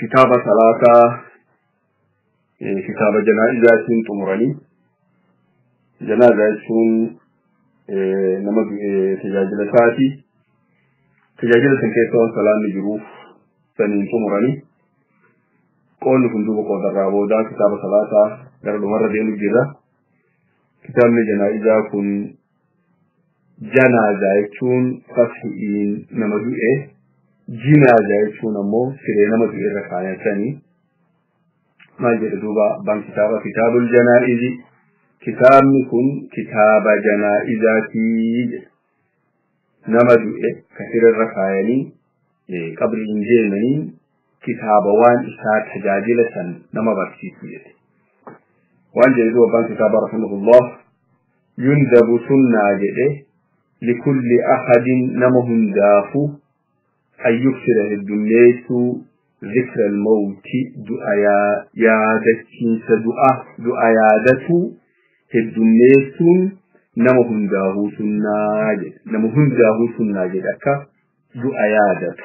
kitaaba salaataa kitaaba janaa'izaatiin xumuranii janaazaa jechuun nama tajaajila isaati tajaajila san keessa waan salaanni jiruuf saniin xumuranii qoonni kun duuba qoodarraa boodaa kitaaba salaataa gara dhumarra deemu jira kitaabni janaa'izaa kun janaaza jechuun fasi'iin nama du'e jinaaza jechuun ammoo siree nama du'e irra kaayatanii maal jedhe duuba abbaan kitaaba kitaabul janaa'izi kitaabni kun kitaaba janaa'izaatii jedhe nama du'e ka siree irra kaayanii qabriin deemanii kitaaba waan isaa tajaajila san nama barsiisu jedhe waan jedhe duba abbaan kitaaba rahimahullah yundabu sunnaa jedhe likulli ahadin nama hundaafu an yuksira heddummeessuu zikra almawti du'a yaadachiinsa du'a du'a yaadatu heddummeessuun nama hundaahuu sunnaa jedhe nama hundaahuu sunnaa jedhe akka du'a yaadatu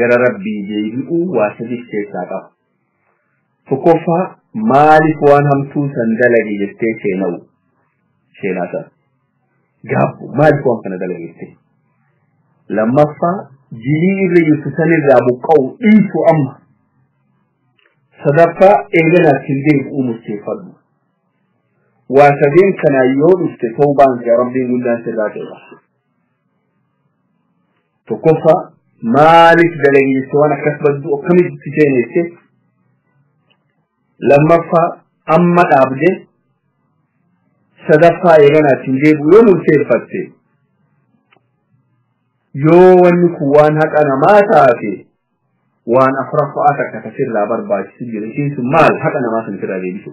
gara rabbii deebi'uu waa sadiif keessaa qaba tokkoffaa maaliif waan hamtuu san dalage jettee sheena'u sheenaa san gaabbu maaliif waan kana dalage jettee lammaffaa jilii irra jirtu san irraa buqqa'u dhiisu amma sadaffaa eeganaaf hin deebi'uu murteeffadhu waa sadeen kanaa yoo dhufte tawbaan kee rabbiin guddaan sirraa qeeqa tokkoffaa maaliif dalageesse waan akkas baddu akkamitti seeneesse lammaffaa amma dhaabde sadaffaa eeganaatti hin deebi'u yoo murteeffatte yoo wanni kun waan haqa namaa taate waan afraffaa takka tasirraa barbaachisu jira ishiin sun maal haqa namaa sun sirraa deebisu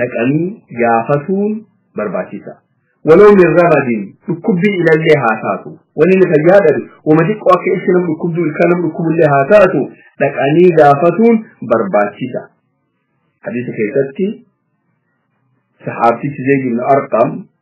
dhaqanii gaafatuun barbaachisa. Waloo min ramadin dhukkubbii ilallee haa taatu. Wanni inni fayyaa dhabe wama xiqqoo akka ibsi nama dhukkubduu ilkaan nama dhukkubullee haa taatu dhaqanii gaafatuun barbaachisa. Hadiisa keessatti sahaabtichi Zeyd ibn Arqam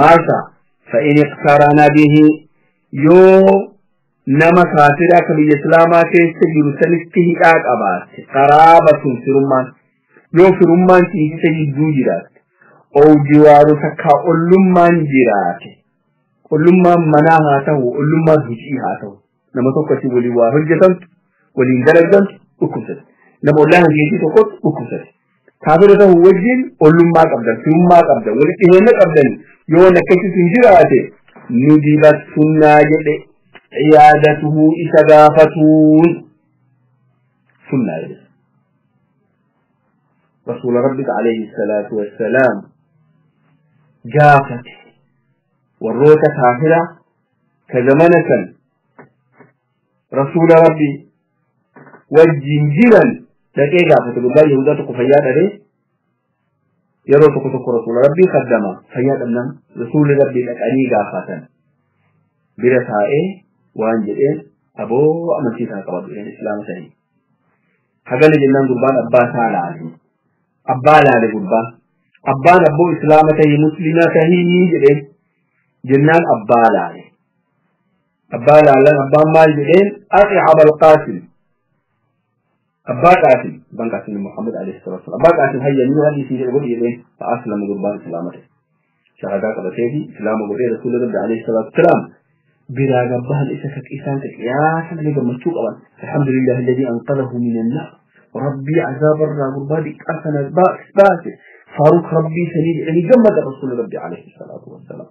maasa fa'in iqtaaraana bihi yoo nama kaafira akka biyya islaamaa keessa jiru sanitti hidhaa qabaatte qaraabatun firummaan yoo firummaan ciisisa jidduu jiraatte oo jiwaaru takkaa ollummaan jiraate ollummaan manaa haa ta'u ollummaan hojii haa ta'u nama tokko isin waliin waa hojjetantu waliin dalagdantu dhukkubsate nama ollaa hojjeetii tokkotti dhukkubsate kaafira ta'u wajjin ollummaa qabdan firummaa qabdan walitti dhiheenya qabdan yoo nakkachis hin jiraate ni dibattunnaa jedhe ciyaadatuhu isa gaafatuun sunnaa jedhe rasuula rabbika alayhi salaatu wassalaam gaafate warroota kaafira ka zamana san rasuula rabbi wajjin jiran dhaqee gaafate gurbaan yahudaa tokko fayyaa dhabee yeroo tokko tokko rasuula rabbii kaddama fayyaa dhabnaan rasuulli rabbii dhaqanii gaafatan bira taa'ee waan jedheen aboo amantii isaa qabatu islaama sanii hagana jennaan gurbaan abbaa isaa laale abbaa laale gurbaan abbaan abboo islaama tahii muslimaa tahii jedheen jennaan abbaa laale abbaa laalan abbaan maal jedheen ati abal qaasim abbaa qaasim abbaan qaasim muhammad alayhi salatu wasalam abbaa qaasim hayya ni waan isii jedhe godhi jedheen fa aslama gurbaan islaama ta'e shahadaa qabatee fi islaama godhee rasuula rabbi alayhi salaatu wasalaam biraa gabbahan isa ka isaan ka qiyaasa malee gammachuu qaban alhamdulillahi alladhii anqadahu min annaar rabbii azaaba irraa gurbaa diqqaa sana baase faaruq rabbii sanii jedhanii gammada rasuula rabbi alayhi salaatu wasalaam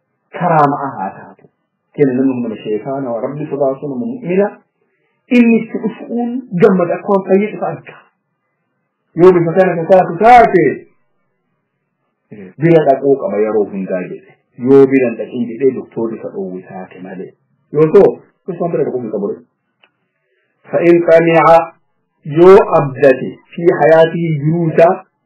karaama'a haa taatu kenna nama mana sheekaa nama rabbi sodaatu nama mu'mina inni itti dhufuun gammada akka waan fayyee dhufa arga yoo bifa kana ka taatu taate bira dhaquu qaba yeroo hundaa jedhe yoo bira hin dhaqin jedhee doktoorri isa dhoowwe taate malee yoo ta'u isaan bira dhaquu hin qabu fa'in qaniica yoo abdate fi hayaatii jiruusaa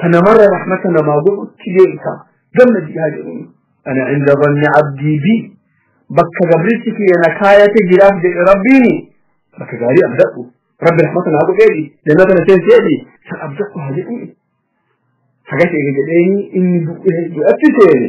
ka namarra rahmata namaa godhutti beeyta gamna jihaa jedhuni ana inda banni abdii bi bakka gabrichi kiyya na kaayate jiraaf jedhe rabbiini bakka gaarii abdadhu rabbi rahmata naa godheedhi jannata na seenseedhi san abdadhu haa jedhuni hagas eega jedheeni inni du'e du'atti seene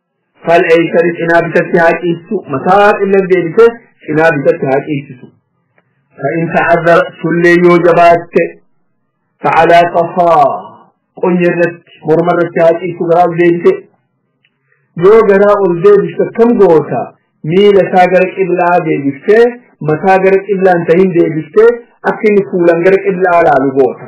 fal eeysani cinaa bitatti haa ciistu mataa illee deebise cinaa bitatti haa ciisisu fa'in ta'azzara sullee yoo jabaatte fa'alaa qafaa qonya irratti morma irratti haa ciistu garaa ol deebise yoo garaa ol deebiste akkam goota miila isaa gara qiblaa deebiftee mataa gara qiblaan tahin deebiftee akka inni fuulan gara qiblaa laalu goota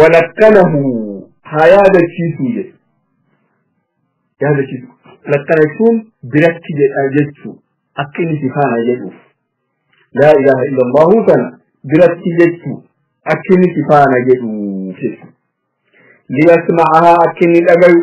walakkanahu haa yaadachiisuu jedhe yaadachiisu lakkana jechuun biratti jedha jechuu akka inni si faana jedhuuf laa ilaaha illa allahu sana biratti jechuu akka inni si faana jedhuuf jechu liyasma'ahaa akka inni dhagayu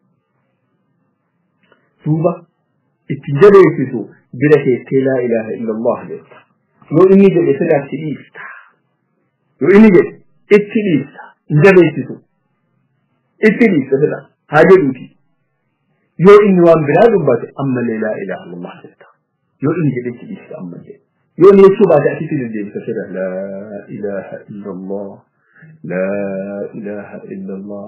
duuba itti jabeessitu bira keessee laa ilaaha illallah jetta yoo inni jedhe sirraa itti dhiista yoo inni jedhe itti dhiista hin jabeessitu itti dhiista sirraa haa jedhuuti yoo inni waan biraa dubbate ammallee laa ilaaha illallah jetta yoo inni jedhe itti dhiista ammallee yoo inni jechuu baate asitti deddeebisa sirra laa ilaaha illallah laa ilaaha illallah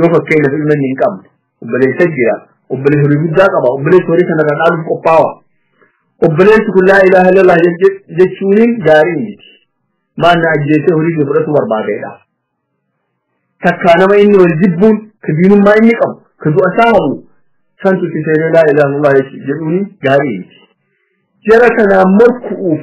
yoo fakkeenyaaf ilma inni hin qabne obboleessa jira obboleessa horii guddaa qaba obboleessa horii kanarraa dhaaluuf qophaawa obboleessi kun laa ilaaha illallah jechuuniin gaarii miti maal na ajjeesee horii kee fudhatu barbaadeedha takkaa nama inni wal jibbuun ka diinummaa inni qabu ka du'a isaa habu santu itti seenee laa ilaaha illallah jedhuuni gaarii miti jara kanaan morku'uuf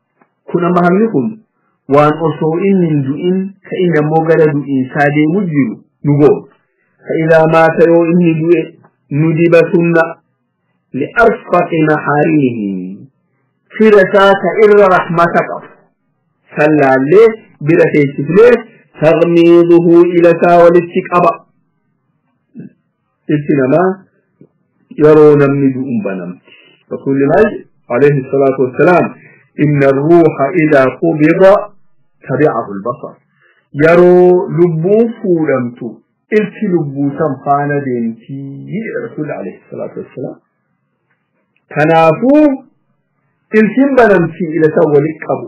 Kun amma hammi kun waan osoo inni hin du'in ka inni ammoo gara du'iinsaa deemu jiru nu goona. Ka idaa maata yoo inni du'e nu diba sunna li arfaqi mahaarimihi fira isaa ka irra rahmata qabu. Sallaallee bira teessifnee tagmiiduhu ila isaa walitti qaba. Itti namaa yeroo namni du'uun banamti. Rasuulilaahi alayhi salaatu wassalaam inna ruuha idaa qubida tabi'ahu albasar. Yeroo lubbuun fuudhamtu ilki lubbuu san faana deemtii jedha Rasuulli alayhi salaatu wassalaam. Kanaafuu ilkiin banamtii ila san walitti qabu.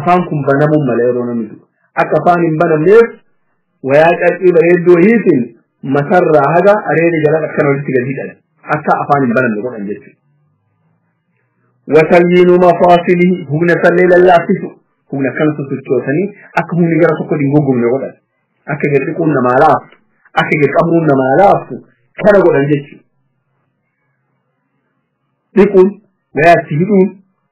afaan kun banamuun mala yeroo namni du'u akka afaan hin banamneef wayaa carqii bareedduu wayiitiin matarraa haga areeda jalan akkana walitti gadi hidhan akka afaan hin banamne godhan jechuudha. Watalyiinu mafaasilihi humna sallee lallaafisu humna akkanatu sochoosanii akka humni gara tokko hin goggomne godhan akka gadi dhiquun namaa laaftu akka gadi qabuun namaa laaftu kana godhan jechuudha. Dhiquun wayaatti hidhuun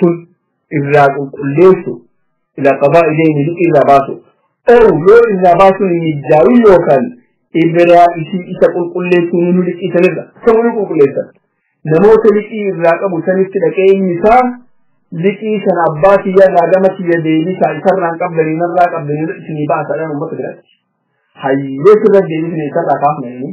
sun irraa qulqulleessu ila qabaa ileeni liqii irraa baasu ow yoo irraa baasuun hin mijaa'u yookaan ibiraa isii isa qulqulleessuun nu liqii sanirra ta'uu nu qulqulleessan namoota liqii irraa qabu sanitti dhaqee inni isaa liqii sana abbaa kiyya irraa gama kiyya deebisaa isarraan qabdanii narraa qabdanii isinii baasaadhaan uummata biratti hayyee sirra deebisne isarraa kaafnanii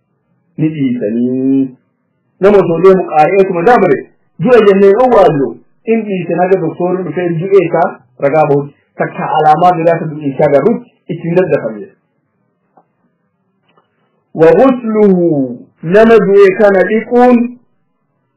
ni dhiisanii nama osoo deemu qaari'eetuma dabre du'a jennee yoo waallu in dhiise naga doktoorri dhufee du'ee isaa ragaa bahutti takka alaamaa biraa isa du'iisaa garrutti ittiin daddafame. Wagusluhu nama du'e kana dhiquun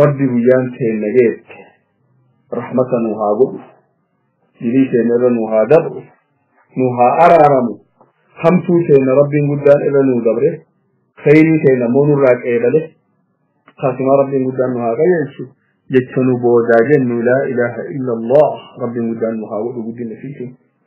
rabbi guyyaan teenna geette rahmata nu haa godhu dilii teenna irra nu haa dabru nu haa araaramu hamtuu teenna rabbiin guddaan irra nu dabre khayrii teenna immoo nurraa qeebale kaasuma rabbiin guddaan nu haa qajeelchu jecha nu boodaa jennu laa ilaaha illa allah rabbiin guddaan nu haa godhu guddina fiitiin